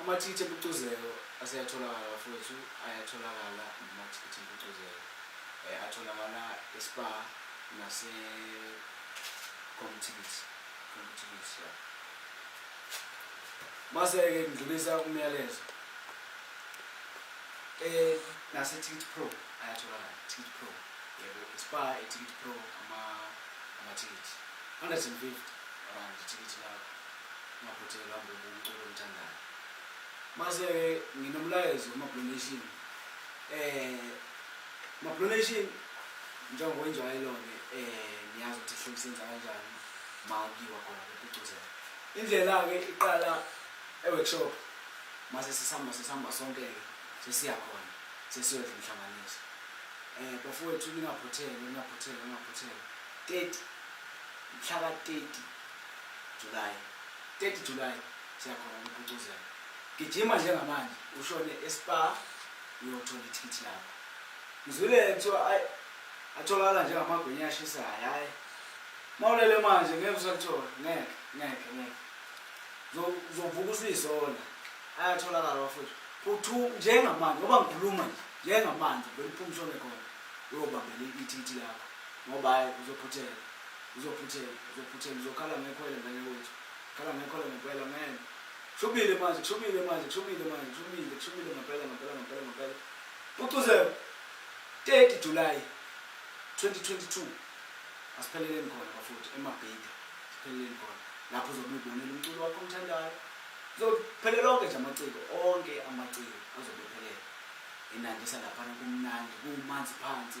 Amathikithi empucuzeko aseyatholakala bafowethu, ayatholakala amathikithi empucuzeko. Eh, atholakala eSpar nase Comptickets. Comptickets, yeah. Mase-ke ngidlulisa umyalezo. Eh, naseTicket Pro ayatholakala, Ticket Pro. Yebo, iSpar, iTicket Pro, ama- amathikithi. 150 rand ithikithi lakho. Ngaphutheka ngihamba umculo omthandayo. Mase ke nginomlayezo kuma-Blue Nation. Eh ma-Blue Nation njengoba injwayelo-ke eh niyazi ukuthi sihleli senza kanjani ma kuyiwa khona kupucuzela. Indlela-ke iqala e-workshop mase sesihamba sesihamba sonke-ke sesiya khona sesiyodla umhlanganiso. Eh bafowethu ningaphutheke ningaphutheke ningaphutheke. 30 mhla ka-30 July 30 July siyakhona ukuphucuzela gijima njengamanje ushone espa uyothola ithikithi lakho ngizwile kuthiwa ayi atholakala njengamagwinya ashisayo hhayi mawulele manje ngeke usalithola ngeke ngeke ngeke uzovuka usuyisola ayatholakala bafowethu phuthu njengamanje ngoba ngikhuluma nje njengamanje beliphuma ushone khona uyobambela ithikithi lakho ngoba hhayi uzophuthela Uzophuthela, uzophuthela, uzokhala ngekhwele ngane wethu. Khala ngekhwele ngempela man. Kushubile manje, kushubile manje, kushubile manje, kushubile, kushubile ngempela ngempela ngempela ngempela. Pucuzeko 30 July 2022. Asipheleleni khona bafuthi emabhida. Sipheleleni khona. Lapho uzobe ubonela umculo wakho omthandayo. Uzophele lonke nje amaciko, onke amaciko azobe ephelele. Inandisa lapha kumnandi, kumanzi phansi.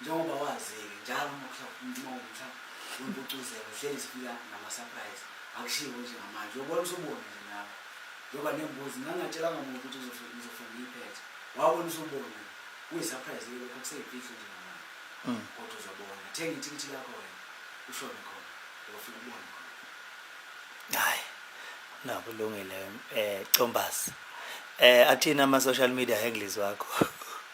njengoba wazi-ke njalo uma kuhlala uma umtha wempucuzeko uhleli zifika nama-surprise akushiwo nje ngamanje uyobona usubona nje nawe njengoba nembuzi ngangingatshelanga muntu ukuthi ngizofuna ngiyiphethe wabona usubona kuyi-surprise ke lokho kuseyimfihlo nje ngamanje mm. kodwa uzobona thenga ithikithi lakho wena ushone khona uyofika ubone khona hayi nakulungile um eh, combazi um eh, athini ama-social media handles wakho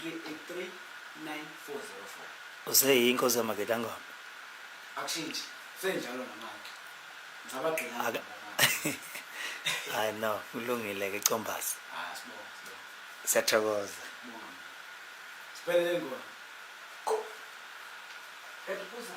3839404 useyi inkosi yamagetangoma akushintshe senjalo namanje ngabagqina hayi no kulungile ke combasi ah, siyathokoza siphelele ngona ebuza